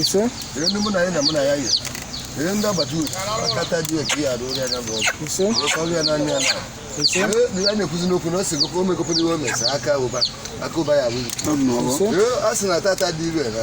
ise ihe ndị agbata uru akata dị otu ya arụ ya bụ ọgụ ise ọrụ ya naanị ya na ise ya na-ekwuzi n'okwu na ọ sị gokwa omekopụrụ iwe mesa aka ụba aka ụba ya abụghị ise a sị na tata dị ire na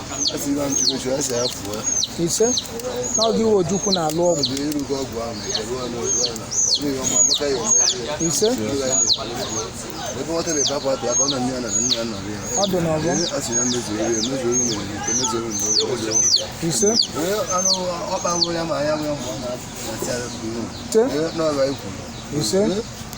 ise na ọ gị iwe ojukwu na-alụ ọgwụ ise ọ dị n'ọgbọ ise ise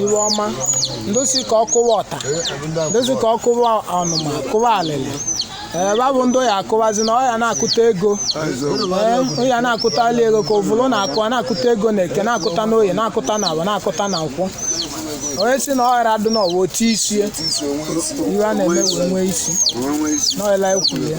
iwe ọma ndosi ka ọ kụwa ọta ndosi ka ọ kụwa ọnụma kụwa alịlị ee babụ ndị ya akụwazi na ọ ya na-akụta ego ee ọ ya na-akụta ala ego ka ovulu na-akụ a na-akụta ego na eke na-akụta n'oye na-akụta na afọ na-akụta na nkwọ onye sị na ọ ghara adụ n'ọwa otu isie iwe a na-eme wee nwee isi n'ọla ekwuru ya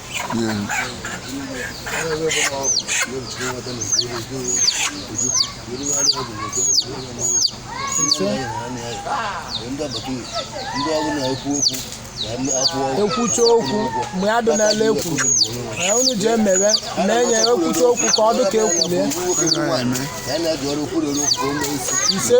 ekwucha okwu mgbe ya dị n'ala ekwuru unu ji emewe na-enye ekwucha okwu ka ọ dị ka ekwulie ise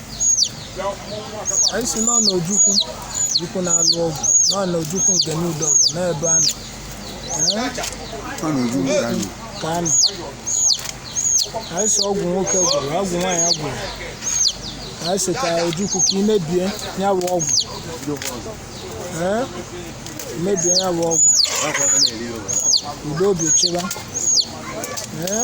anyị sị nọ n'ojukwu jukwu na-alụ ọgwụ nọ n'ojukwu ngene udo n'ebe a nọ Ee, Ọ na-eju ụlọ anyị. ka a nọ anyị sị ọgwụ nwoke gwọrọ ọgwụ nwaanyị gwọrọ anyị sị ka ojukwu ka ị mebie ya bụ ọgwụ Ee, mebie ya bụ ọgwụ udo obi chịba Ee,